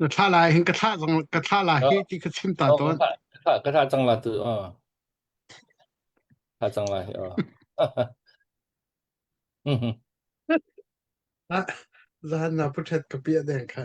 Na thlah lai hin ka thlah zong ka thlah lai hi ti ka chim ta Oh, ka tawn. thlah ka thlah ka thlah cang la tu oh thlah cang la hi oh Mhm. Ah, zaan na puthet ka pia deng kha.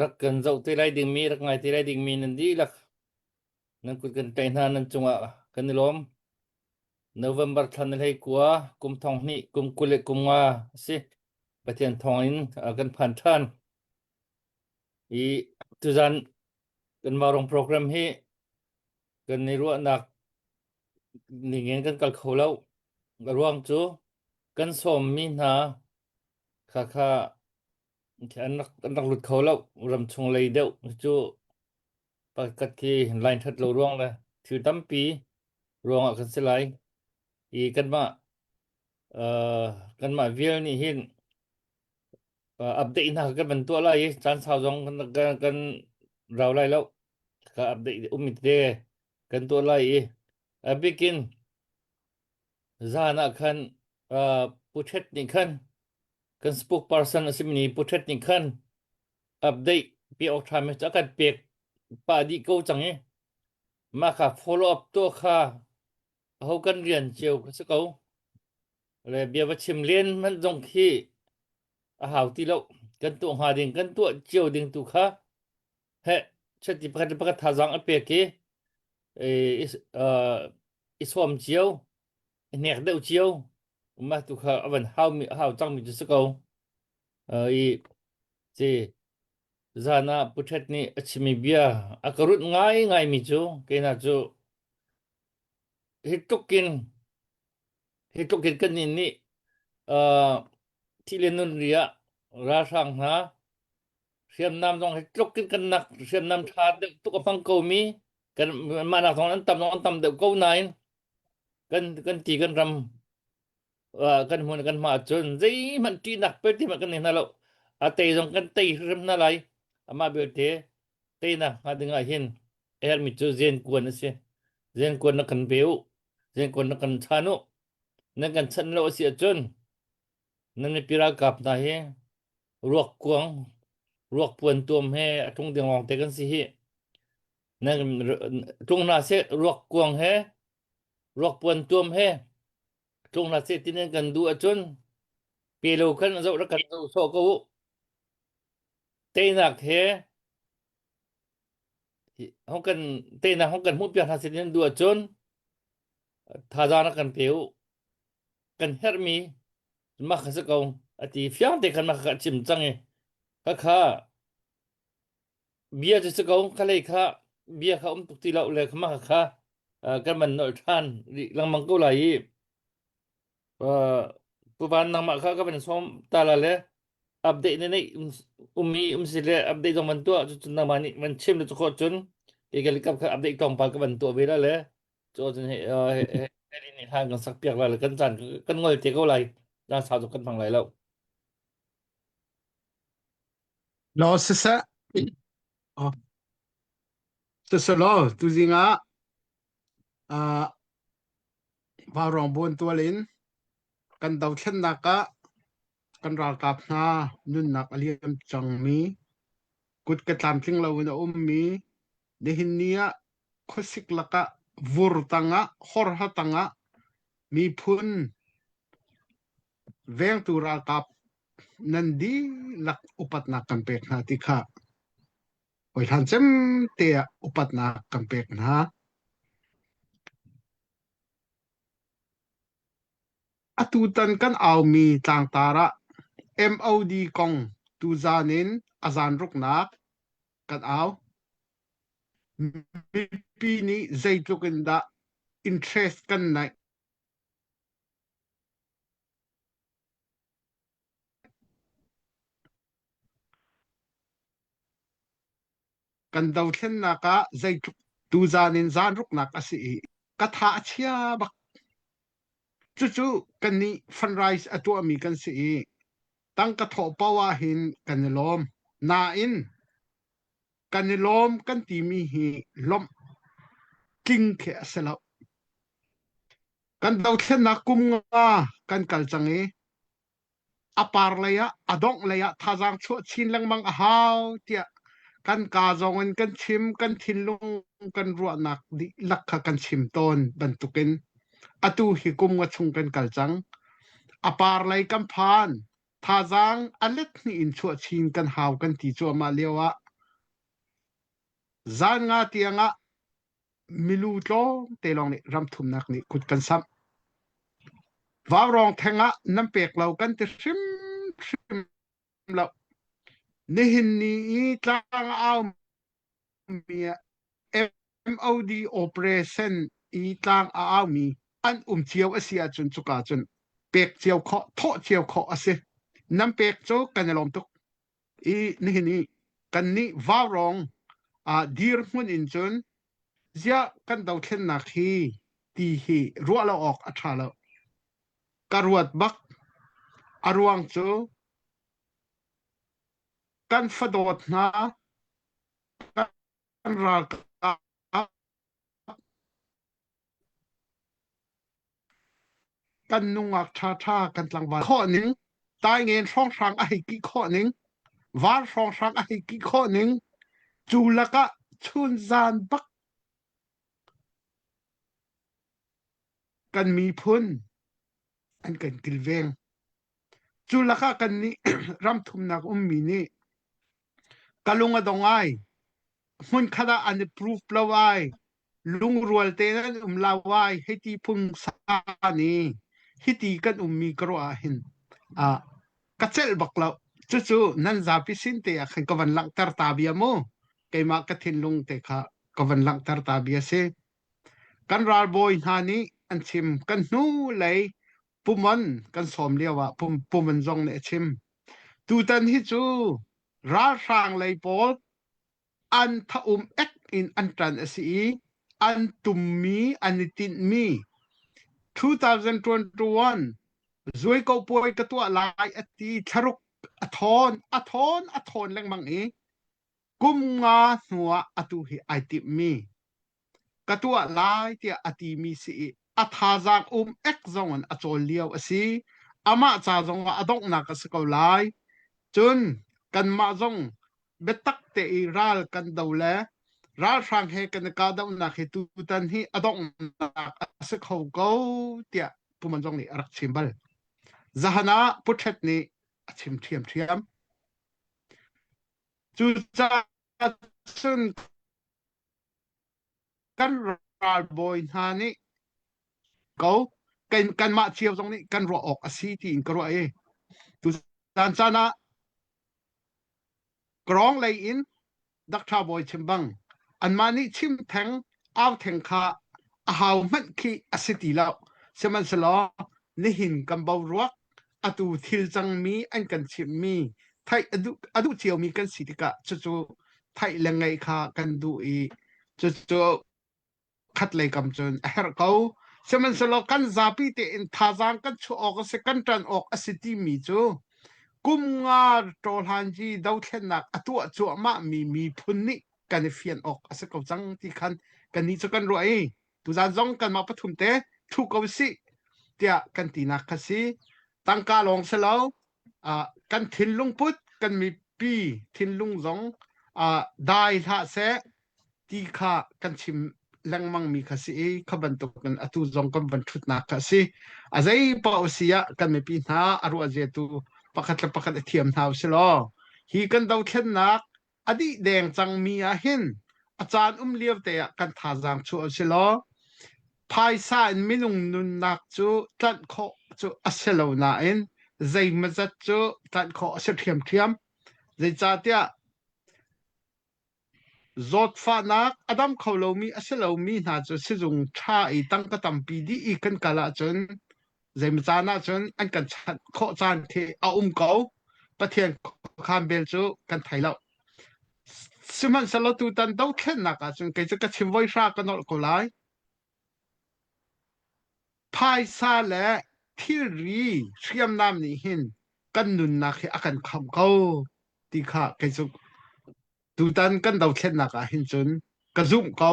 rak kan zoh te lai dingmi rak ngai te lai dingmi nan dihlak nan kut kan tlaih hna nan cungah kan i lawm November thla na hlei kua kum thong hnih kum kul le kum nga a si Pathian thong in uh, kan phan ṭhan i tuzan kan marong program hi kan i ruahnak ningin kan kal kho lo ruang cu kan sawmmi hna kha kha An rak an rak lut kho lo. Ram chung lei deuh cu pakhat khi line that lo ruang le thil tampi ruangah kan si lai. I kanmah uh, kanmah vial nih hin uh, update hna kan van tuah lai i caan sau zong kan kan, kan rau lai lo. Ka update um te kan tuah lai i a bikin zan ah khan uh, puchet nih khan kan spokesperson a simi puthet nih khan update pe awk ṭhami cu a kan pek pah dih ko cang i mah ka follow up tuah kha aho kan rian cio a si ko le bia va chim len hmanh zong khi a hau ti lo kan tuah hnga ding kan tuah cio ding tu kha he chati pakhat le pakhat thazang a pek i i sawm cio hnek deuh cio umah tu kha avan haumi hau cangmi cu si ko uh, i ci zan ah puthet nih a chimi bia a ka runh ngai ngaimi cu keina cu hi tlukin hi tlukin kan nih nih uh, thi le nun ri ah ralhrang hna hriamnam zong hi tlukin kan nak hriamnam tha deuh tuk a hmang komi kan mahnak thawng an tam zong an tam deuh ko nain kan kan ti kan ram uh, kan hmun kan hma cun zeihmanh ṭihnak pertimanh kan nei hna lo a tei zong kan tei hrim hna lai amah belte teinak hnga dingah hin a herhmi cu zen kuan a si zen kuan na kan pe u zen kuan na kan chan u nan kan chanh lo a si ahcun nan mipi ralkap hna hi ruak kuang ruak puan tuam he a ṭung dengawng te kan si hi na tlung na se ruak kuang he ruak puan tuam he tlung na se tinen kan du acun pe lo khan zo ra kan zo so ko teinak he hong kan teinak hong kan hmuh piak hna se tinen du acun thaza na kan pe u kan hermi mah ka se ko ati fiang te khan mah ka chim cang e khakha Bia cu si ko, khalei kha bia kha um tuk ti lo le khama kha uh, kan man nolh ṭhan rih lengmang ko lai i uh, tuvan nangmah kha ka van sawm ta la le update ne neih um, um i um si le update dong van tuah cucun nangmah nih van chim le cu khawt cun kei ka likap kha update tong pa ka van tuah ve la le cu cun he uh, he he he rin nih hlan kan sak piak la le kan caan kan ngol te ko lai dan sau cu kan hmang lai lo Law siseh, oh, siselaw tuzing ah uh, vaurong buan tual in kan dothlennak ah kan ralkap hna nunnak a liam cangmi kut ka tlamtling lo in a ummi nihin ni ah khuasik lakah vur tangah horha tangah miphun vengtu ralkap nan dihlak upatnak kan pek hna ti kha hawihlan cem te ah upatnak kan pek hna. Atu tan kan aumi tlangtar ah MOD kong tu zan in azan ruknak kan au. Mipi nih zeitluk in dah interest kan naih Kan dothlennak ah zeitluk tuzan in zanruknak a si i ka tha a chia bak. Cucu kannih fundraise a tuahmi kan si i tangka thawh paoh ah hin kan i lawm. Nain kan i lawm kan timi hi lawmh tling khi a si loh. kan dothlennak kum nga kan kal cang i a par lei ah a dongh lei ah thazaang chuah chin lengmang a hau tiah kan ka zong in kan chim kan thinlung kan ruahnak dihlak kha kan chim tawn bantukin atu hi kum nga chung kan kal cang a par lei kan phan thazaang a let hni in chuah chin kan hau kan ti cuahmah lio ah zan nga tiang ah milu tlawmte lawng nih ram thumnak nih kut kan samh. Vaurawng theng ah nan pek lo kan ti hrimhrim lo. Nihin ni i tlang aumi MOD operation i tlang a aumi an um cio a si ahcun cuka cun pek cio khawh, thawh cio khawh a si. Nan pek cu kan i lawm tuk. i nihin i kannih vaurong uh, dirhmun in cun ziah kan dothlennak hi ti hi ruah lo awk a tha lo ka ruat bak a ruang cu kan fadawt hna kan ralkap kan nungak ṭhaṭha kan tlangval khawh ning taingen hrawnghrang a hei kih khawh ning var hrawnghrang a hei kih khawh ning cu lakah chun zan bak kan miphun an kan kilveng Cu lakah kannih ramthumnak ummi nih ka lung a dong ai. Hmunkhat ah an i proof lo ai. Lungrual tein an um lau ai. Hei ti phung san i hiti kan ummi ka ruah ah hin ah ka celh bak lo. Cucu nan zapi sin te ah khan ka van langhter ta bia mu. Keimah ka thinlung te kha ka van langhter ta bia si. Kan ralbawi hna nih an chim kan hnu lei Pum an kan sawm lio ah pum, pum an zong nih a chim. Tutan hi cu ralhrang lei pawl an thaum ek in an tan a si i an tummi an i tinhmi 2021 zuiko puai ka tuah lai a ti thlaruk a thawn a thawn a thawn lengmang i kum nga hnuah atu hi ai timmi ka tuah lai tiah a timi si i a thazaang um ek zong in a cawl lio a si amah ca zong ah a donghnak a si ko lai cun kanmah zong biatak te i ral kan do le ralhrang he kan i kahdohnak hi tutan hi a donghnak a si kho ko tiah Kuman zong nih a rak chim bal zahan ah puthet nih a chim ṭhiam ṭhiam cucaah cun kan ralbawi hna nih ko kan kanmah cio zong nih kan ruah awk a si tiin ka ruah i tuzan caan ah Karong lei in Dr. Bawi chim bang anmah nih chim theng au theng kha a hau hmanh khi a si ti lo sihmanhselaw nihin kan bo ruak atu thil cangmi an kan chimhmi theih a duh, a duh ciomi kan si tikah cucu theih le ngeih kha kan duh i cucu khat lei kam cun a herh ko sihmanhsehlaw kan zapi tein thazaang kan chuah awk a si kan ṭan awk a si timi cu kum nga ṭawhlanji dothlennak a tuah cuahmahmi miphun nih kan i fian awk a si ko cang ti khan kannih cu kan ruah i Tuzan zong kanmah pathum te thu ko sih tiah kan tinak kha si. Tangka lawng si lo kan thinlung put kan mipi thinlung zong dai hlah seh ti kha kan chim lengmang mi kha si i kha bantuk in atu zong kan van thutnak kha si a zei pa si ah kan mipi hna a ruah zetu pakhat le pakhat i thiam hna u si law hi kan dothlennak a dih deng cangmi ah hin a caan um lio te ah kan thazaang chuah a si law phaisa in minung nunnak cu tlanh khawh cu a si lo nain zeimazat cu tlanh khawh a si ṭhiamṭhiam. Zeicahtiah zawtfahnak a dam kho lomi a si lomi hna cu sizung ṭha i tangka tampi dih i kan kal ahcun zeimaw caan ahcun an kan chanh khawh caan khi a um ko pathian khuakhan vel cu kan thei lo sihmanhsehlaw tutan dothlennak ahcun kei cu ka chim voi hra ka nolh ko lai phaisa le thilri hriamnam nih hin kan nunnak hi a kan khamh ko ti kha kei cu tutan kan dothlennak ah hin cun ka zumh ko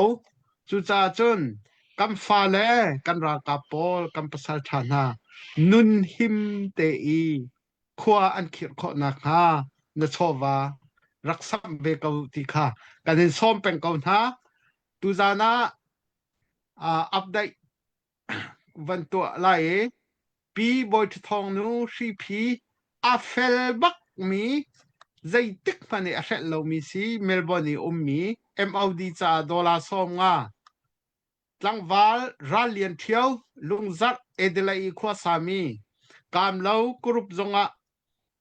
cucaah cun kan fale kan ralkap pawl kan pasal ṭha hna nun him te i khua an khirh khawh nakhnga na chawva rak sam ve ko ti kha kan in sawm peng ko hna tuzan ah uh, update van tuah lai i pi bawiṭha thawngnu hriphi a fel bakmi zeitik hmanh i a hrelh lomi si Melbourne i ummi MOD caah dollar sawm nga tlangval ral lian ṭhio lungzarh Adelaide i khua sami kaamlo kurup zongah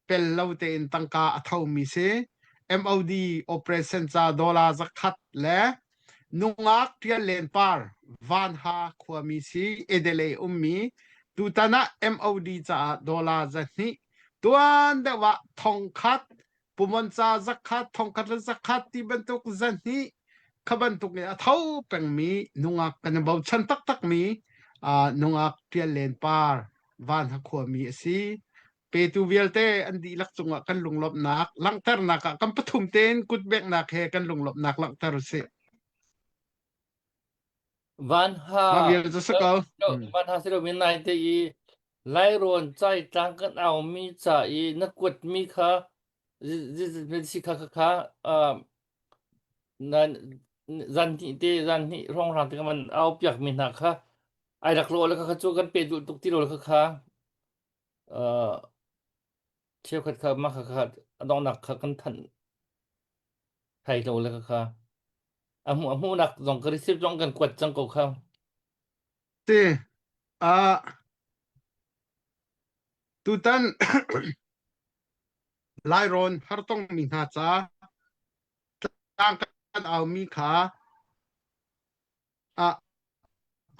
tel lo tein tangka a thomi si MOD operation ca dollar zakhat le nungak tial len par vanha khuami si edele ummi tutan ah MOD caah dollar za hnih tuan deuh ah thong khat puman ca zakhat thongkhat le zakhat ti bantuk zan hi kha bantuk in a tho pengmi nungak kan i bochan taktak mi nungak tial len par van ha khua mi a si petu vialte an dihlak cungah kan lunglawmhnak langhternak ah kan pathum tein kutbeknak he kan lunglawmhnak langhter u sih Vanha Mah vial cu si ko. Hmm. Vanha si lomi nai te i Lairawn caitlang kan aumi ca i na kuatmi kha si kha kha kha zan hnih te zan hnih rongrang te man au piakmi hna kha ai rak law le kha cu kan pe duh tuk ti lo le kha kha Cheukhat kha mah kha kha a donghnak kha kan thanh thai lo le kha kha a hmuh a hmuhnak zong ka receipt zong kan kuat cang ko kha Ti ah tutan Lairawn hartong mi hna ca tlangkan aumi kha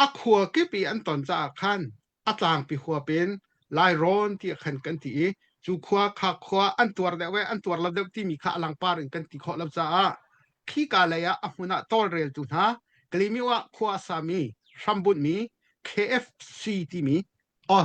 a khua kip i an ton caah khan a tlangpi huap in lairawn tiah khan kan ti i cu khua kha khua an tuar deuh e an tuar lo deuh timi kha a langpar in kan ti khawh lo caah khi ka lei ah a hmun ah tawlreltu hna kalimi ah khua a sami hrambunmi KFC timi o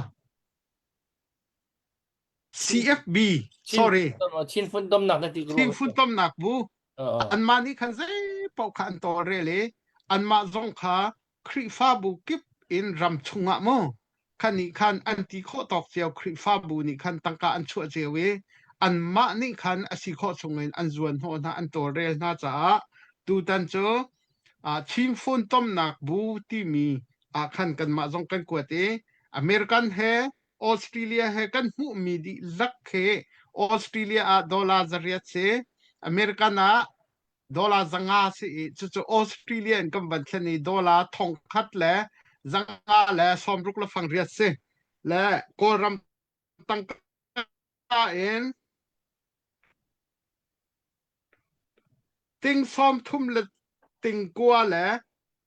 CFB, sorry. Chin funtomnak na ti ko. Chin funtomnak bu. Anmah nih khan zei paoh kha an tawlrel i anmah zong kha Khrihfabu kip in ram chungah mu khan nih khan an ti khawh tawk cio Khrihfabu nih khan tangka an chuah cio i anmah nih khan a si khawh chungin an zuan hnawh hna an tawlrel hna caah tutan cu Chin funtomnak bu timi ah khan kanmah zong kan kuat i American he Australia he kan hmuhmi dihlak khi Australia ah dollar zariat si American ah dollar zanga si i cucu Australia in kan van thlen i dollar thongkhat le zanga le sawmruk le fang riat si le Kawlram tangka Nain, ting sawm thum le ting kua le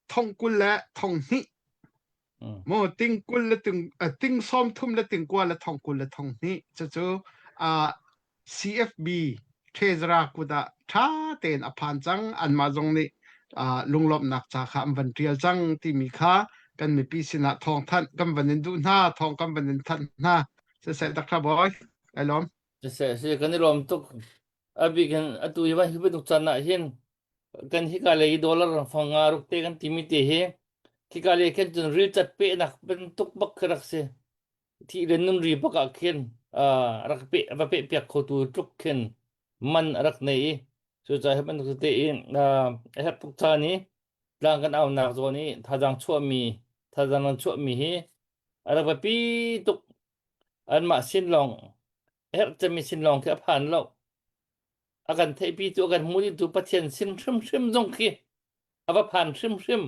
thong kul le thong hnih mm. maw ting kul le ting uh, ting sawm thum le ting kua le thong kul le thong hnih cucu uh, CFB Treasurer kuda tha tein a phan cang anmah zong nih uh, lunglawmnak ca kha an van tial cang timi kha kan mipi sinah thawng thanh kan van in duh hna thawng kan van in thanh hna seseh tak tha boy ai lom seseh se kan i lom tuk abi kan atu hi van hi banuk chan na hin kan hi ka le dollar rang fang nga ruk te kan timi te hi khi ka le kan chun ri chat pe nak ben tuk bak rak se thi ren nun ri baka khen rak pe va pe piak kho tu tuk khen man rak nei so cha he ban te in a hep tuk cha ni Tlang kan aunak zawn i thazaang chuahmi thazaang an chuahmi hi a rak biapi tuk. Anmah sin lawng herh cemi sin lawng khi a phan lo. A kan theihpi cu a kan hmuhditu Pathian sin hrimhrim zong khi a va phan hrimhrim.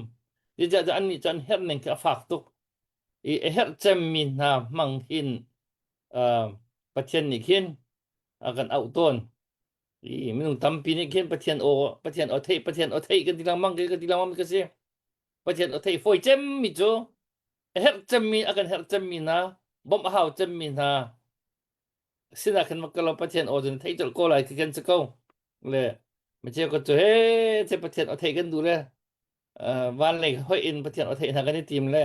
Zeicahcah annih cu an herhning khi a fak tuk. I a herh cemmi hna hmang hin uh, Pathian nih khin a kan auh tawn. I minung tampi nih khin Pathian aw Pathian aw theih Pathian aw theih kan ti lengmang ke kan ti lengmang mi ka si Pathian aw theih foi cem mi cu a herh cem mi a kan herh cem mi hna bawmh a hau cem mi hna sinah khan makka lo Pathian aw cun theih colh ko lai ti kan si ko le ma ceu ka cu he the Pathian aw theih kan duh le uh, van lei hoih in pathian o thei hna kan i tim le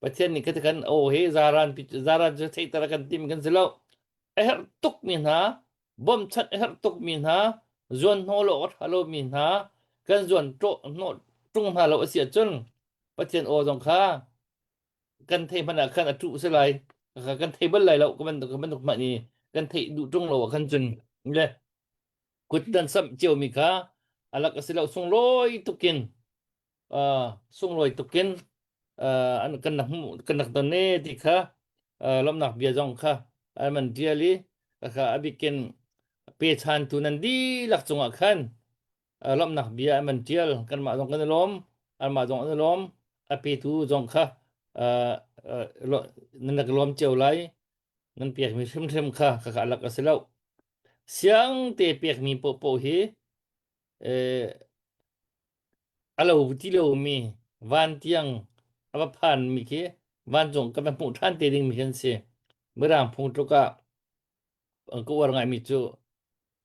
pathian nih kan o hi zaran zaran cu thei tara kan tim kan si lo a herh tuk mi hna bawmchat a herh tuk mi hna zuan hno lo a ṭha lo mi hna kan zuan ṭo hno ṭung hna lo a si ahcun pathian o zong kha kan thei hmanh ah khan a ṭu si lai kha kan thei bal lai lo ka bantuk ka bantuk hmani kan thei duh ṭung lo ah khan cun le kut kan samh ciomi kha alak a si lo sunglawi tukin uh, sunglawi tukin uh, an kan nak kan nak ton ne ti kha uh, lomnak bia zong kha alman diali kha abikin pe chan tu nan di lak cungah khan lomnak bia alman dial kanmah zong kan lom almah zong an lom ape tu zong kha nan nak lom cio lai nan piak mi hrim hrim kha kha alak a si lo Siang te pekmi poahpoah hi eh, a lo ti lomi van tiang a va phanmi khi vancung kan va hmuh ṭhan te dingmi khi an si. Mirang phung tluk ah an ka uar ngaimi cu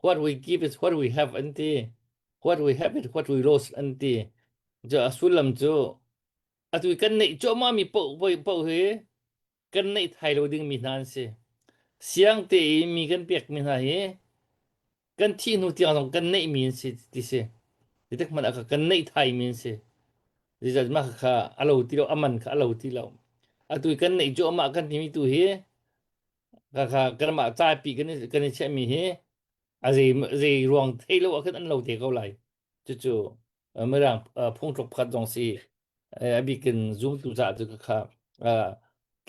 what we give is what we have an ti. What we have is what we lost an ti. Cu a sullam cu atu i kan neih cuahmahmi poah poah hi kan neih thai lo dingmi hna an si. Siang tein mi kan pekmi hna hi kan thih hnu tiang zong kan neihmi an si ti si. Titak man aka kan neih thaimi an si. Zizat mah kha a lo ti lo, aman kha a lo ti lo. Atu kan neih cu amah kan timi tu hi ka kha kanmah caipi kan i kan i chiahmi hi a zei zei ruang thei lo ah khan an lo te ko lai. cucu mirang phungthluk pakhat zong si abikin zumtu caah cu kha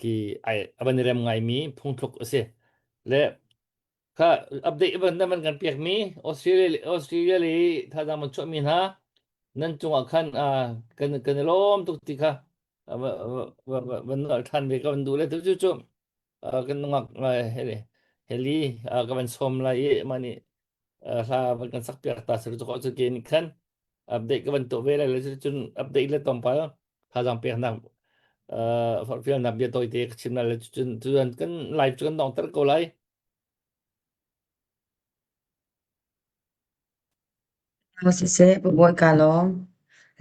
ki ai avan rem ngaimi phungthluk a si le kha update ban nan kan pekmi Australia Australia le thazang man chuahmi hna nan cungah khan kan kan i lawm tuk ti kha van nal ṭhan ve ka van duh le tu cucu kan nungak heli heli ka van sawm lai i mah nih hla van kan sak piak ta sir ko cun ke ni khan update ka van to ve lai le cun update le tong pal thazang piak nak fil nak bia toi te ka chim na le cun tuan kan live cu kan dong ter ko lai siseh pabuat kalong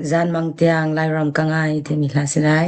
zan mang tiang lairam kangai te mi hla silai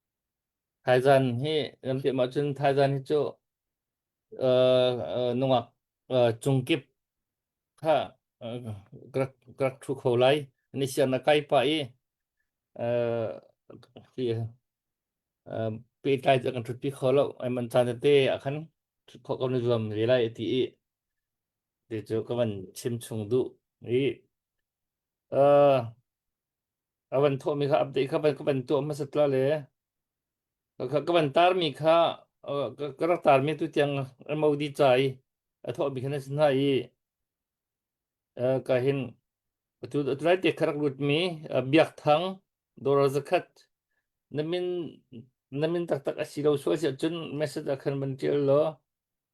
Thaizan hi kan piah ahcun thaizan hi cu uh, uh, nungak uh, cungkip kha uh, ka rak ka rak thu kho lai. Ni siang na kai pa i uh, hi uh, pehtlai cu kan thutpi kho lo. Ai man caan tete akhan khok kan zuam ve lai ti i ti cu ka van chim chung duh i uh, A van thawhmi kha update kha van, ka van tuah hmasat la le ka, ka, ka van tarmi kha uh, ka, ka rak tarmi tu tiang MOD ca i a thawhmi kha na si hna i uh, ka hin tu tu lai te kharak lutmi uh, biak thang dora zakhat na min na min taktak a si lo so si ahcun message ah khan van tial law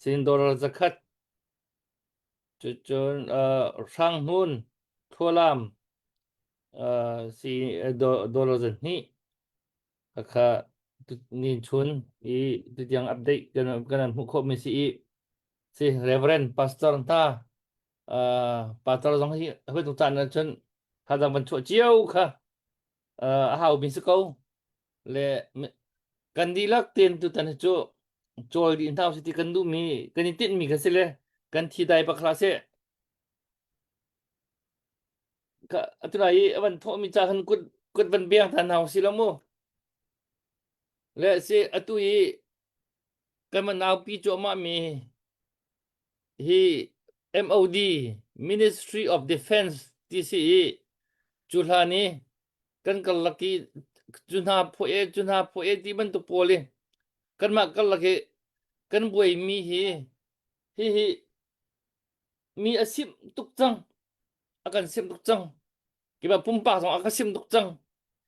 Cindawr zakhat. Cun hrang hnun thualam si dawr zahnih. Kha nin chun i tutiang update kanan hmuh khawhmi si i si Reverend Pastor ta Pastor zong hi hoi tuk caan ahcun thadang van chuah cio kha uh, a hau mi si ko le me- kan dihlak ten tutan hi cu cawl dih hna usih ti kan duh mi kan i tinh mi kan si le kan thi dai bak hlah seh ka atuna i avan thawh mi ca khan kuat kuat van biang than hna usih lo mu le si atu i kan man naupi cu amah mi hi MOD Ministry of Defense ti si i cu hlan i kan karlak i cu hna phuah e cu hna phuah e ti bantuk pawl i kanmah karlak i kan buaimi hi hihi mi a simh tuk cang a kan simh tuk cang Kiba pumpak zong a ka sim tuk cang.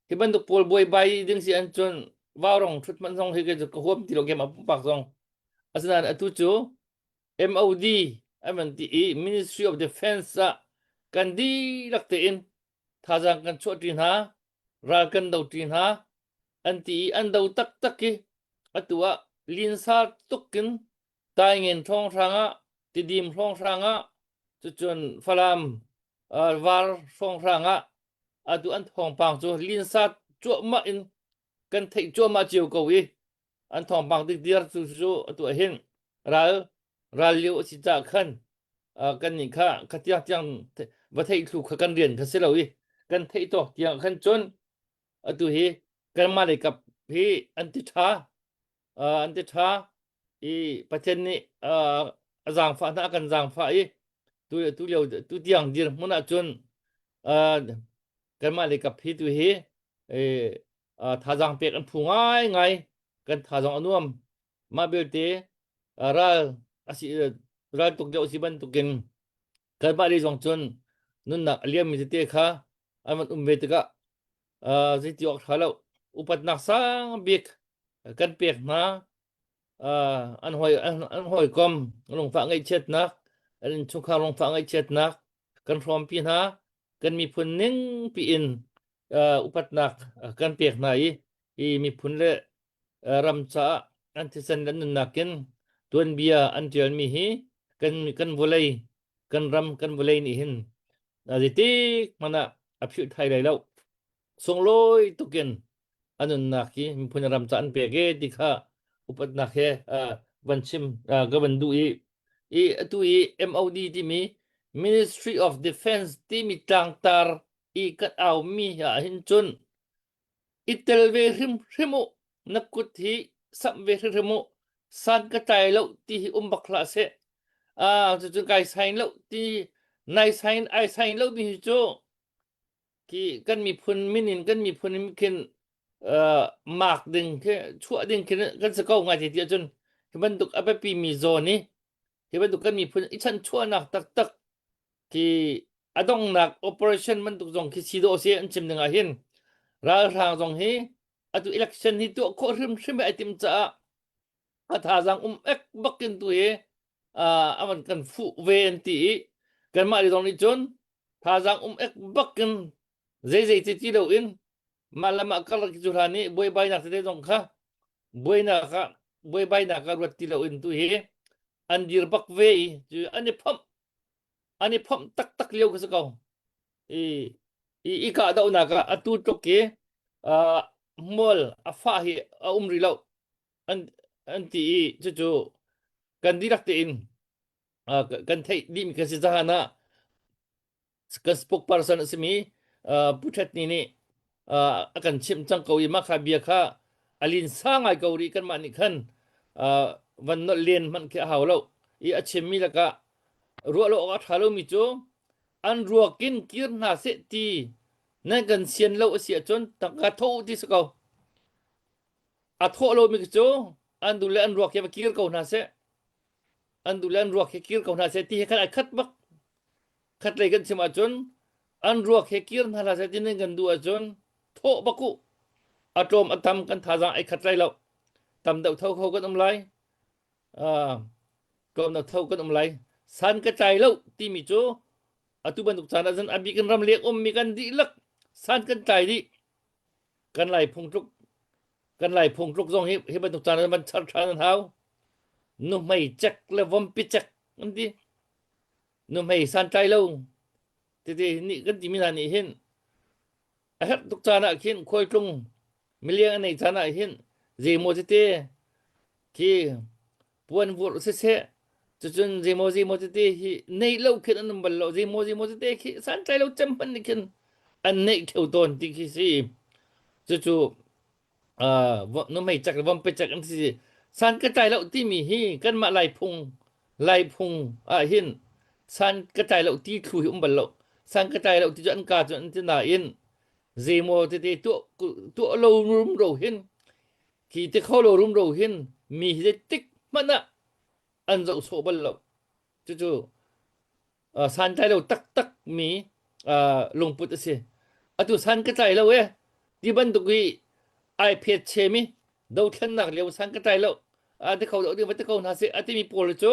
Hi bantuk pawl buaibai ding si an cun vaurong thut man zong hi ke ka huam ti lo kem a pumpak zong. Asinain atu cu MOD aman ti i Ministry of Defense ah kan dihlak tein thazang kan chuah ṭi hna, ral kan do ṭi hna an ti i an do taktak i atu ah linsa tukin taingen hrawnghrang ah tidim hrawnghrang ah cucun falam var hrawnghrang ah atu an thawngpang cu linsat cuahmah in kan theih cuahmah cio ko i an thawngpang tik dir cu cu atu ahin ral ral lio a si cah khan kan nih kha khatiang tiang va theih thlu kha kan rian kha si lo i kan theih tawk tiang khan cun atu hi kanmah lei kap hi an ti ṭha an ti ṭha i Pathian nih a zaangfah hna a kan zaangfah i tu tu lio tu tiang dirhmun ah cun kanmah leikap hi tu hi thazaang pek an phu ngaingai kan thazaang a nuam mah belte ral asi raltuk deuh si bantukin kanmah le zong cun nunnak a liammi tete kha an van um ve tikah uh, zeiti awk ṭha lo upatnak sang bik kan pek hna uh, an hoi an, an hawikom lungfah ngaihchiatnak an chungkhar lungfah ngaihchiatnak kan hrawmpi hna kan miphun ning piin uh, upatnak uh, kan pek hna i i miphun le ram caah an thisen an nunnak in tuanbia an tialmi hi kan kan vawlei kan ram kan vawlei nih hin a zetik hmanh ah a philh thai lai lo sunglawi tukin a nunnak hi miphun ram ca an pek e ti kha upatnak he uh, van chim uh, ka van duh i i atu i MOD timi Ministry of Defense timi tlangtar i kat aumi ah hin cun I tel ve hrimhrim u, na kut hi samh ve hrimhrim u. San ka tlai lo ti hi um bak hlah seh. Ah, cucun kai sain lo ti, nai sain ai sain lo mi hi cu ki kan miphun minin kan miphun in khin uh, mark ding khi chuah ding khi kan se ko ngai ti ti ahcun hi bantuk a biapi mi zawn i hi bantuk kan miphun i chan chuahnak taktak Hi a donghnak operation bantuk zong khi si dawh se an chim ding ah hin ralhrang zong hi atu election hi tuah khawh hrimhrim ai tim caah a thazaang um ek bak in tu hi uh, aman kan fuh ve an ti i kanmah zong nih cun thazaang um ek bak in zeizei ti ti lo in mah lam ah karlak cu hla nih buaibainak tete zong kha buainak ah buaibainak ah ruat ti lo in tu hi an dir bak ve i cu an i phomh An i phomh taktak lio ka si ko. I, i, i kahdohnak ah atu tluk i uh, hmual a fah hi a um rih lo an an ti i cucu kan dirak tein uh, kan theih dihmi kan si cahan ah ka spokesperson a simi uh, Pu Ṭhet Ni nih uh, a kan chimh cang ko i mah kha bia kha a lin sa ngai ko ri kanmah nih khan uh, van nolh len hmanh khi a hau lo i a chimmi lakah ruah lo awk a ṭha lomi cu an ruak in kir hna seh ti nan kan sian lo a si ahcun tangka tho ti si ko a thawh lomi cu an dun le an ruak hi va kir ko hna seh an duh le an ruak hi kir ko hna seh ti he khan a khat bak khat lei kan chim ahcun an ruak he kir hna hlah seh ti nan kan duh ahcun thawh bak u a tlawm a tam kan thazang ai khat lai lo tam deuh tho kho kan um lai tlawm deuh tho kan um lai san ka tlai lo timi cu atu bantuk caan ah zan abik in ram lek ummi kan dihlak san kan tlai dih kan lai phung tluk kan lai phung tluk zong hi hi bantuk caan man char ṭhan an hau nuhmei chek le vompi chek an ti nuhmei santlai lo tete nih kan timi hna nih hin a herh tuk caan ah khin khual tlung miliang a nei caan ah hin zei maw tete khi puan vur siseh cucun zeimaw zeimaw tete hi neih lo khin an um bal lo zeimaw zeimaw tete khi santlai lo cem hman nih khin an neih kheu tawn ti khi si cucu nu mei cak le vom pe cak an si san ka tlai lo timi hi kanmah laiphung laiphung ah hin san ka tlai lo ti thlu hi um bal lo san ka tlai lo ti cu an ka cu an ti nain zeimaw tete tuah tuah lo rum ro hin Khi te kho lo rumro hin mi hi zeitik hmanh ah an zoh sawh bal lo. Cucu uh, santlai lo taktak mi uh, lungput a si. Atu san ka tlai lo e ti bantuk i ai phet che mi do thlennak leo san ka tlai lo a te kho lo ding va te ko hna se a ti mi pawl cu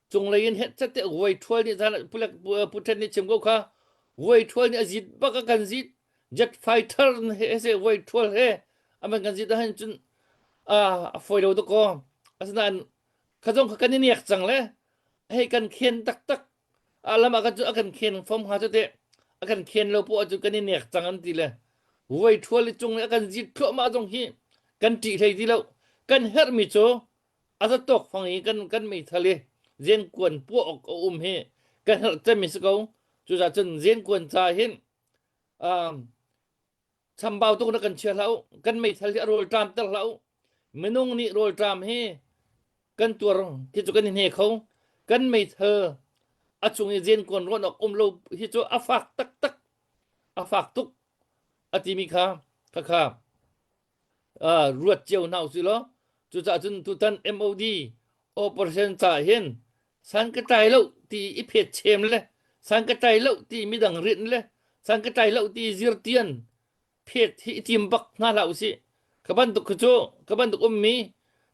Cunglei in het cate vuai thual nih zan putan nih chim ko kha vuai thual nih a zit bak a kan zit jet fighter he se vuai thual he aman kan zit ahan cun a foi lo to ko asinain khazong kha kan i niak cang le hei kan khen taktak alam ah chu akan khen fom ha te akan khen lo po chu kan i niak cang an ti le vuai thual i cung le akan zit thluahmah zong hi kan tih hlei ti lo kan herhmi cu a zatawk fang i kan kan meithal i zengkuan puah awk a um hi kan herh cem si ko cuza cun zengkuan ca hin chambau tuk na kan chia hlah u kan meithal hi a rawl ṭam ter hlah u minung nih rawl ṭam hi kan tuar khi cu kan i hne kho kan meithal a chung i zengkuan rawn awk um lo hi cu a fak taktak a fak tuk a timi kha khakha ruat cio hna usih law cucaah cun tutan MOD operation ca hin san ka tlai lo ti i phet chem le san ka tlai lo ti midang rin le san ka tlai lo ti zirtian phet hi i tim bak hna hlah usih ka bantuk kha cu ka bantuk ummi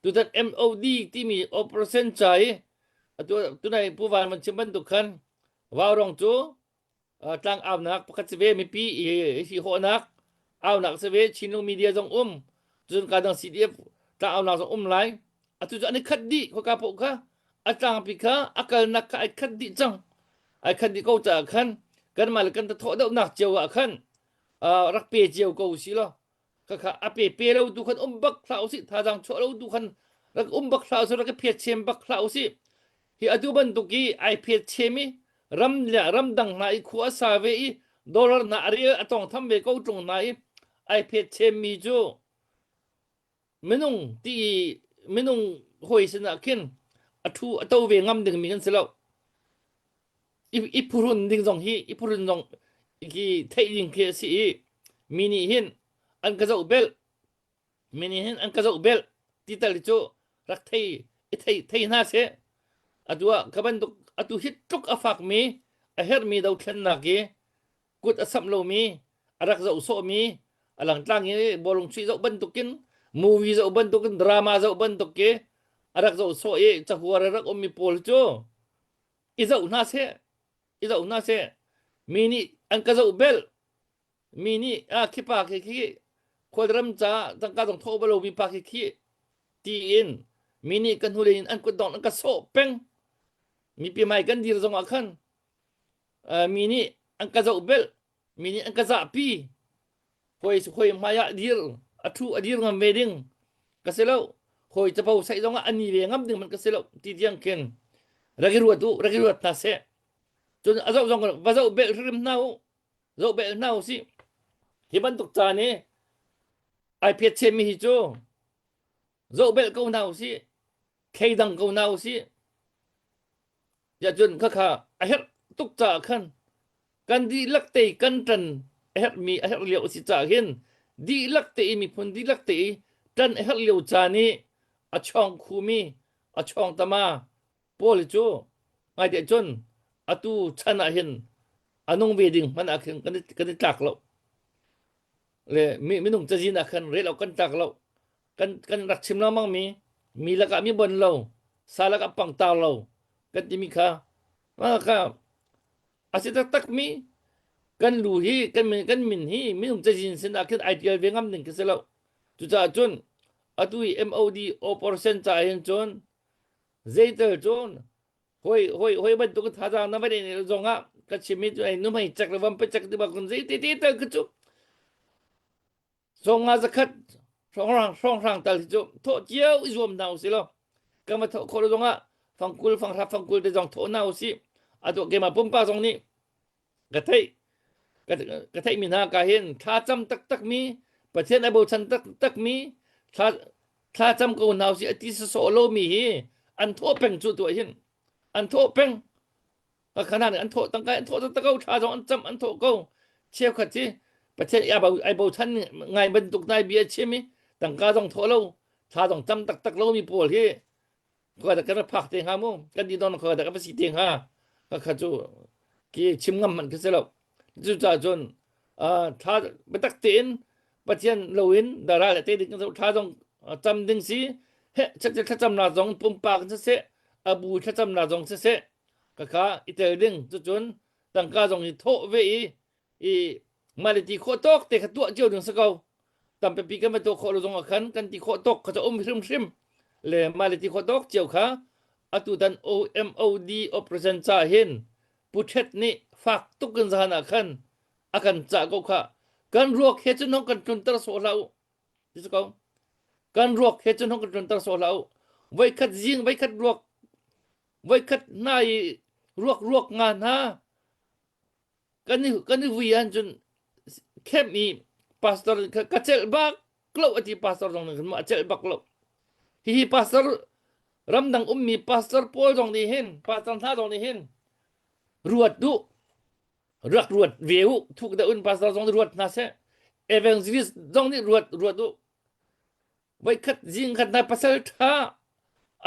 tutan MOD timi operation ca i atu tunai puvan man chim bantuk khan Vaurong cu tlangaunak pakhat si ve mipi i hi hawhnak aunak si ve Chinlung media zong um cun ka dang CDF tlangaunak zong um lai atu cu an i khat dih khawka poh kha a tlangpi kha a kalnak kha ai khat dih cang ai khat dih ko caah khan kan mah le kan tha thawh deuhnak cio ah khan rak pe cio ko si law kakha ape pe lo tu khan um bak hla usi thazang cho lo tu khan rak um bak hla usi rak phe chem bak hla usi hi atu bantuk i ai phe chem i ram le ram dang na i khu asa ve i dollar na ari atong tham ve ko tlung na i ai phe chem mi chu minung ti minung hoi sina khin athu ato ve ngam ding mi kan selo i, i purun ding zong hi i purun zong hi theih ding khi a si i mi nih hin an ka zoh bel mi nih hin an ka zoh bel ti tal hi cu rak thei i thei thei hna seh atu ah ka bantuk atu hi tluk a fak mi a hermi dothlennak i kut a samh lomi a rak zoh sawhmi a langtlang i bolung chuih zoh bantukin movie zoh bantukin drama zoh bantuk i a rak zoh sawh i cahuar a rak ummi pawl cu i zoh hna seh i zoh hna seh mi nih an ka zoh bel mi nih a khipa khi khi khualram ca zangka zong thawh balo mi pa khi khi ti in mi nih ka hnule in an kutdong an ka sawh peng mi pi mai kan dir zong ah khan mi nih an ka zoh bel mi nih an ka zahpi hoi hoi hmai ah dir a thu a dir ngam ve ding ka se lo hoi capo sai zong ah ani ve ngam ding man ka se lo ti tiang ken ragi ruat u ragi ruat na se cun a zoh zong va zoh bel hrim na u zoh bel na u si hi bantuk ca ne ai phet che mi hi cu zohbelh ko hna usih thei dang ko hna usih ya cun khakha a herh tuk caah khan kan dihlak te kan tan a herh mi a herh lio a si caah hin dihlak te i miphun dihlak te i tan a herh lio ca ni a chong khumi a chong tama paul cu ngai te cun atu chan ah hin anung ve ding man ah khin kan i tlak lo le minung cazin ah khan rel kan tlak lo kan kan rak chim lengmang mi mi lakah mi bon lo sa lakah pangtau lo kan timi kha ka a si taktak mi kan lu hi kan min kan min hi minum cazin sin ah khin ai tial ve ngam ning ka si lo cucaah cun atu i MOD operation ca hin cun zeital cun hoi hoi hoi bantuk thazang na vadai ne zong ah ka chim mi cu ai numai chak le vam pe chak ti ba kun zei te te tal ka chu Song nga zakhat hrawnghrang tal hi cu thawh cio i zuam hna u si lo. Kan va thawh khawh lo zongah fangkul fanghra fangkul te zong thawh hna u si. Ado keima pumpa zong nih ka theih ka theih mi hna ka hin thla cam taktak mi pathian a bochan taktak mi thla thla cam ko hna u si ati saso lo mi hi an thawh peng cu tu hin an thawh peng kakhanan an thawh tangka an thawh tangka tha zong an cham an thawh ko cheukhat hi pathian ia bo ai bochan ngai bantuk nai bia chim i tangka zong thawh lo tha zong cham tak tak lo mi pawl hi ko da kan phak te nga mu kan di don ko da ka si te nga ka kha chu ki chim ngam man ka se lo chu cha chun a tha batak tein pathian loin dara le te ding tha zong cham ding si he chak tha cham na zong pumpa kan se abu tha cham na zong se se Kaka i tel ding cucun tangka zong i thawh ve i i mah le ti khawh tawk te kha tuah cio ding si ko tampi kan va tuah khawh lo zongah khan kan ti khawh tawk kha ca um hrimhrim le mah le ti khawh tawk cio kha atu tan OMOD operation ca hin puṭhet nih fak tuk in zan ah khan a kan cah ko kha kan ruak he cun hong kan tlunter sawh hlah u ti si ko kan ruak he cun hong kan tlunter sawh hlah u voikhat zing voikhat ruak voikhat hna i ruak ruak nga hna kan i kan i vui ahcun khem i pastor kha ka celh bak lo a ti pastor zong nih a celh bak lo hihi pastor ramdang ummi pastor pawl zong nih hin pastor hna zong nih hin ruat duh rak ruat ve u thuk da un pastor zong nih ruat hna seh evangelist zong nih ruat ruat u Voikhat zingkhat na pasal ṭha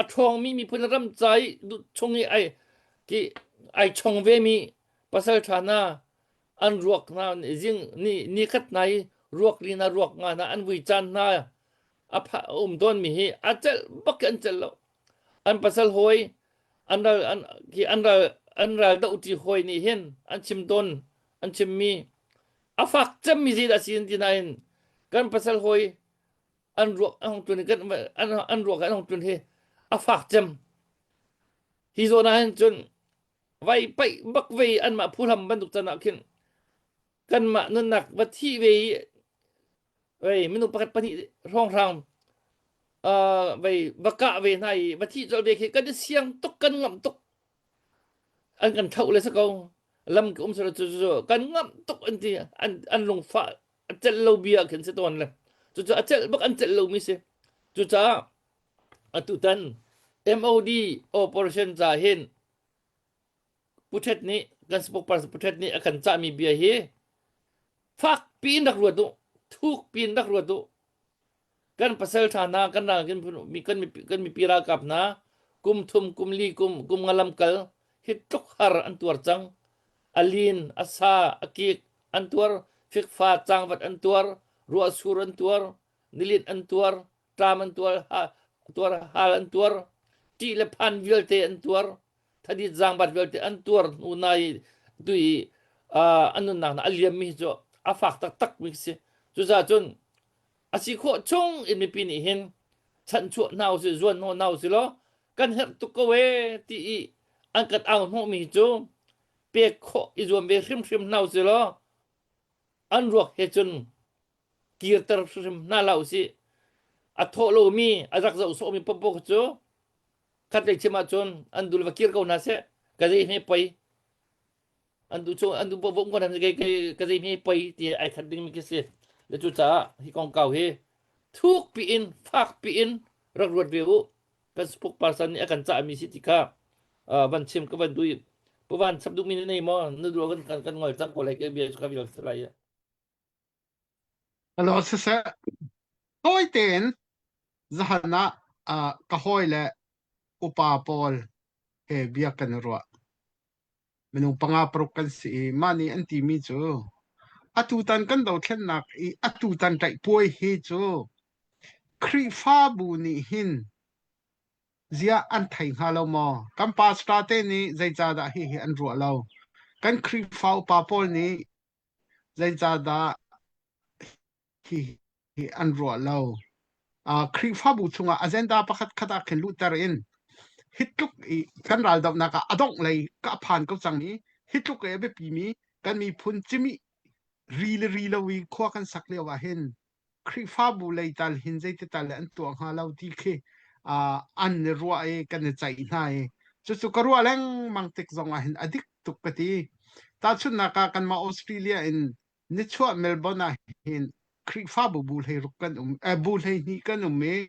a ṭhawngmi miphun ram ca i chung i ai ki ai chong vemi pasal ṭha na an ruak hna zing ni ni khat na i ruak li na ruak nga na an vui caan hna a pha a um tawnmi hi a celh bak in an celh lo an pasal hawi an ral an ki an ral an ral do ti hawi nih hin an chim tawn an chimmi a fak cemmi zi dah si in ti nain kan pasal hawi an ruak a hong tun kan an ruak an hong tun hi a fak cem hi zawn ah hin cun vai paih bak ve an mah phu hlam bantuk can ah khin kan mah nunnak va thi ve i vei minu pakhat pahnih hrawng hrang vei va kah ve hna i va thi colh ve khi kan i siang tuk kan ngamh tuk an kan thoh le si ko lam ka um sala cu cu kan ngam tuk an ti an an lungfa a celh lo bia khin si tawn le cucu a celh bak an celh lo mi si cucaah atu tan MOD operation ca hin puthet nih kan spokesperson puthet nih a kan cah mi bia hi fak piin rak ruat u thuk piin rak ruat u kan pasal tha na kan ral kan mipi ralkap hna kum thum kum li kum kum nga lam kal hi tluk har an tuar cang alin asa akik an tuar fikfa changvat an tuar ruahsur an tuar nilit an tuar tram an tuar tuar hal an tuar ti le phan vialte an tuar thadit zangbat vialte an tuar nu nai tui anun nak na aliam mi chu afak tak tak mi si cuza cun a si khawh chung in mipi nih hin chanchuah hna usih zuan hnawh hna usih law kan herh tuk ko e ti i an kan au hnawhmi hi cu pek khawh i zuam ve hrimhrim hna usih law an ruak he cun kirter hrimhrim hna la usih a thawh lomi a rak zoh sawhmi popo cu khatlei chim ahcun an dul va kir ko hna seh ka zei he pei an tu cho an tu po ko nan ke ke ke zei mi pei ti ai that ding mi ke si le chu ca hi kong kau hi thuk pi in fak pi in rak ruat ve u Facebook person nih a kan cah mi si ti ka van chim ka van dui puvan chap duk mi nei mo na du kan kan kan ngol chak ko lai ke bia ka bi lai alo se se toi ten zahana ka hoi le upa paul he bia kan ruah minung panga paruk kan si i mah nih an timi cu atutan kan dothlennak i atutan tlaihpuai hi cu Khrihfabu nih hin ziah an thei hnga lo maw kan pastor te nih zeicahdah hihi an ruah lo kan Khrihfa upa pawl nih zeicahdah Hihi an ruah lo. Uh, Khrihfabu chungah agenda pakhatkhat ah khin luhter in hi tluk i kan raldohnak ah a dongh lei ka phan ko cang i hi tluk i a biapi mi kan miphun cimi ri le ri lo i khua kan sak lio ah hin Khrihfabu lei tal hin zeiti tal le an tuah hnga lo ti khi uh, an i ruah i kan i ceih hna i cucu ka ruah lengmang tik zong ah hin a dik tuk ka ti. Tahchunhnak ah kanmah Australia in Nichuah Melbourne ah hin Khrihfabu bu hleiruk kan um, eh, bu hleihnih kan um i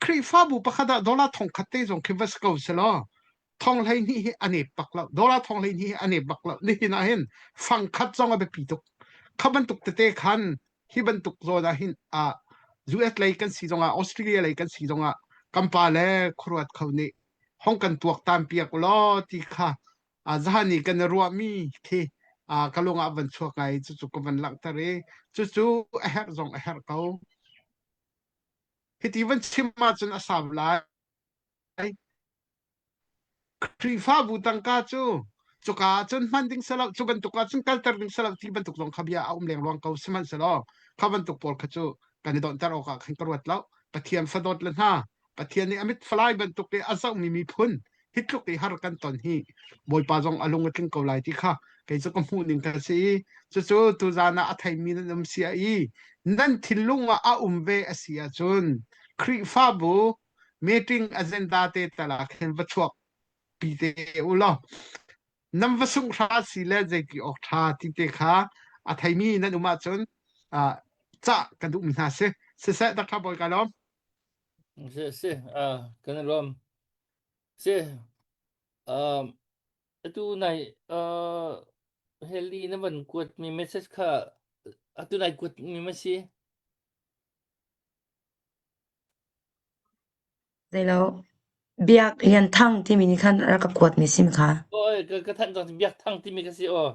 Khrihfabu pakhat ah dollar thongkhat te zong khi va si ko selaw thong hleihnih hi a nep bak lo dollar thong hleihnih hi a nep bak lo nihin ah hin fangkhat zong a biapi tuk kha bantuk tete khan hi bantuk zawn ah hin a US lei kan si zongah Australia lei kan si zongah kan pa le khuaruat kho nih hong kan tuak tan piak law ti kha a zan i kan ruahmi khi a ka lungah van chuak ai cu cu ka van langhter i cu cu a herh zong a herh ko hiti van chim ahcun a sam lai Khrihfabu tangka cu cuka ahcun hman ding selo cu bantuk ahcun kalter ding selo ti bantuk zong kha bia a um lengluang ko sihmanhselaw kha bantuk pawl kha cu kan i donter awkah khan ka ruat lo pathian fadawt le hna Pathian nih a mit falai bantuk i a zohmi miphun hitluk i har kan ton hi Bawipa zong a lung a tling ko lai ti kha kei cu ka hmuhning ka si i cucu tuzan ah a theimi nan um si i nan thinlung ah a um ve a si ahcun Khrihfabu meeting agenda te tala khin va chuak pi te u law nam va sung hra si le zeiti ok tha ti te kha a theimi nan um ahcun ca ka duhmi hna si siseh Dr. Bawi Kalom Si, si, uh, kan i lawm. Si, um, atu nai, uh, heli na van kuat mi message kha, atu nai kuat mi ma si? Zei lo. Biaklian Thang timi nih khan rak ka kuatmi sim kha. Oi, ka ka thanh cang Biak Thang timi ka si aw.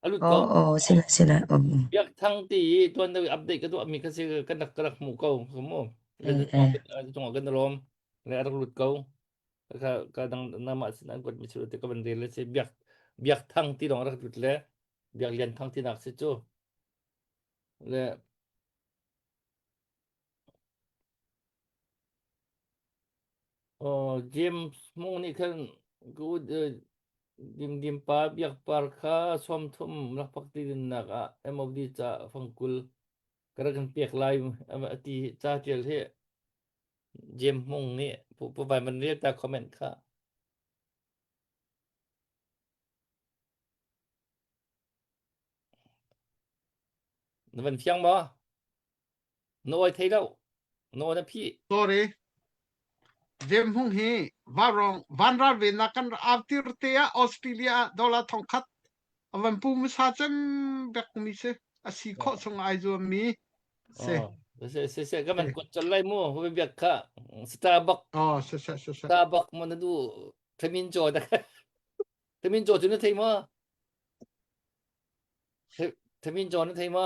A lut ko. Oh, oh, sila sila. Oh, oh. Biak Thang ti i tuan da update ka tuahmi ka si ka nak ka rak hmu ko. Ka mu. Ka Eh, eh. chungah kan rom. Le a rak lut ko. Ka ka dang nama sin an kuat mi su te ka ban rel si Biak Biak Thang ti dong rak lut le Biak Lian Thang ti nak si chu. Le Oh, gym hmu nih khan good dingdim pa biak par kha sawmthum lakpak ti dinnak ah MOD ca fangkul kara kan pek lai a ti ca tial hi Jem Hmung nih pu- puvai man ria ta comment kha na van fiang maw Na oi thei lo. Na oi na phi. Sorry. Jem Hmung hi varong van ral ve na kan aftir te ah Australia dollar thong khat avan pu musa cem bek mi se asi kho sung ai zuam mi se se se se ka man kun chal lai mu hu bek kha Starbucks oh se se se se Starbucks mon du thamin cho da thamin cho chu na thei ma thamin cho na thei ma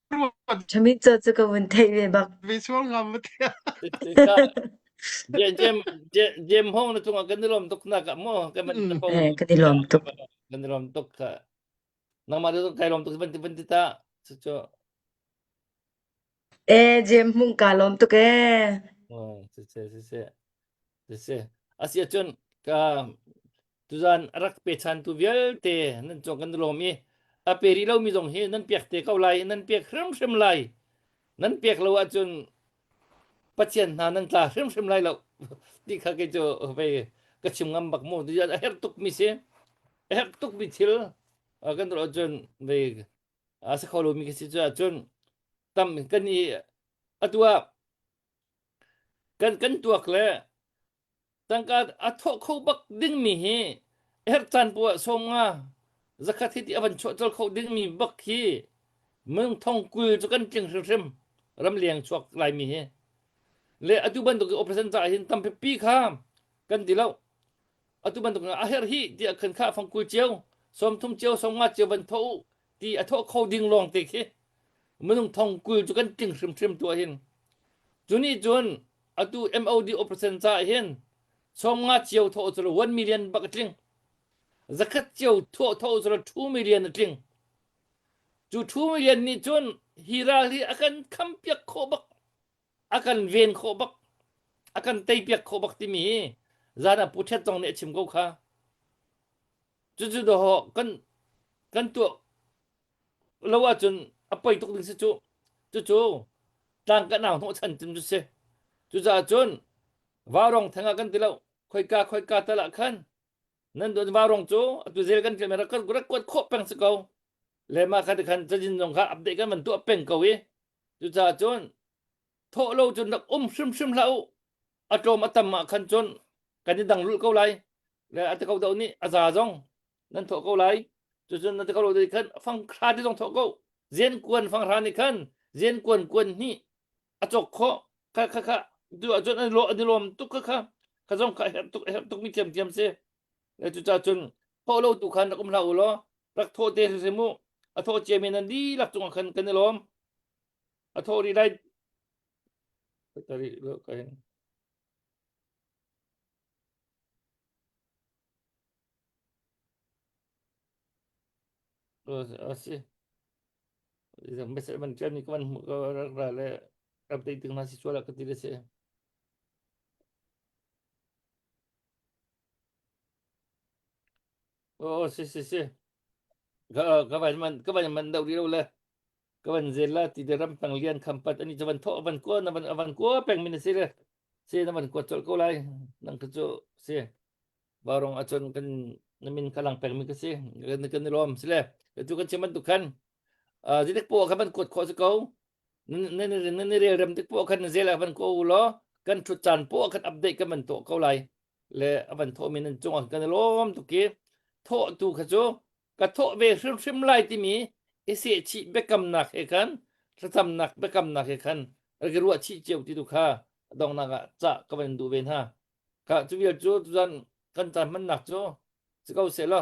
Ṭhaminca cu ka vun theih ve bak. Visual ngam matia. Jem hong na cungah kan i lom tuk na ka mo kan man na pong. Eh kan i lom tuk. Kan i lom tuk ka. Nangma tu kai lom tuk banti banti ta. Su chu. Eh jem hmung ka lom tuk eh. Oh, su chu su chu. si. A si ahcun ka tuzan a rak pe chantu vialte nan cung kan lawm i a pe rih lomi zong hi nan pek te ko lai nan pek hrimhrim lai nan pek lo ahcun pathian hna nan tla hrimhrim lai lo ti kha kei cu vei ka chim ngam bak mu tuchan a herh tukmi si a herh tukmi thil uh, kan tuah cun vei a sa kho lomi ka si cu ahcun tam kan i atu ah Kan kan tuak le tangka a thawh kho bak dingmi hi herh caan poah sawm nga zakhat hi ti a van chuah col kho dingmi bak hi mengthong kul cu kan tling hrimhrim ram leng chuak laimi hi le atu bantuk i operation caah hin tampi pi kha kan ti lo atu bantuk a herh hi tiah khan kha fang kul cio sawm thum cio sawm nga cio van tho u ti a thawh kho ding lawng te khi minung thong kul cu kan tling hrimhrim tu hin cu nih cun atu MOD operation ca hin somnga cio thawh cu 1 million bak a tling zakhat cio thawh thawh cu 2 million a tling cu 2 million nih cun hi ral hi a kan kham piak khawh bak a kan ven khawh bak a kan teipiak khawh bak timi hi zan ah Pu Ṭhet zong nih a chim ko kha cucu daw kan kan tuah lo ahcun a poi tuk ding si cu cucu tlang kan au hnawh chan cun cu si cucaah cun varong theng ah kan ti lo khoika khoika tal ah khan nan don varong cu atu zel kan ṭil rak kan kuat khawh peng si ko le ma kha ti khan cajin zong kha update kan van tuah peng ko i Cucaah cun thawh lo cun rak um hrimhrim hlah u a tlawm a tam ah khan cun kan i dang lulh ko lai le a tikau deuh nih a za zong nan thawh ko lai cucun na tikau deuh khan fang hra te zong thawh ko zian kuan fang hra nih khan zian kuan kuan hnih a cawk khawh kha kha kha tu ahcun an lawm tuk kha kha kha zong kha herh tuk a herh tuk mi thiamthiam si na cuca cun thawh lo tu khan rak um hlah u law rak thawh te si mu a thawh cia men an dihlak cungah khan kan i lawm a thawh rih lai asi mesej man kan ni kan ra le update tingna si chuala ka ti le se Oh, si si si. Ka ờ, ka van man ka van man dau ri lo le. Ka van zel la ti de ram tang lian kham pat ani chavan tho avan ko na van avan ko peng min si le. Si na van ko chol ko lai. Nang ka chu si. Barong achon kan namin kalang peng mi ka si. Kan kan lom si le. Ka tu kan chiman tu kan. zidik po khan ban kuat kho se ko nan i rel rem tik po khan zela ban ko lo kan thut chan po khan update kan man to ko lai le avan tho min an chung kan lom tu ki tho tu kha chu ka tho ve hrim hrim lai ti mi ese chi bekam nak he khan thatam nak bekam nak he khan ri ruwa chi cheu ti tu kha dong na ga cha ka van du ve ha ka chu vial chu zan kan tan man nak chu se ko se lo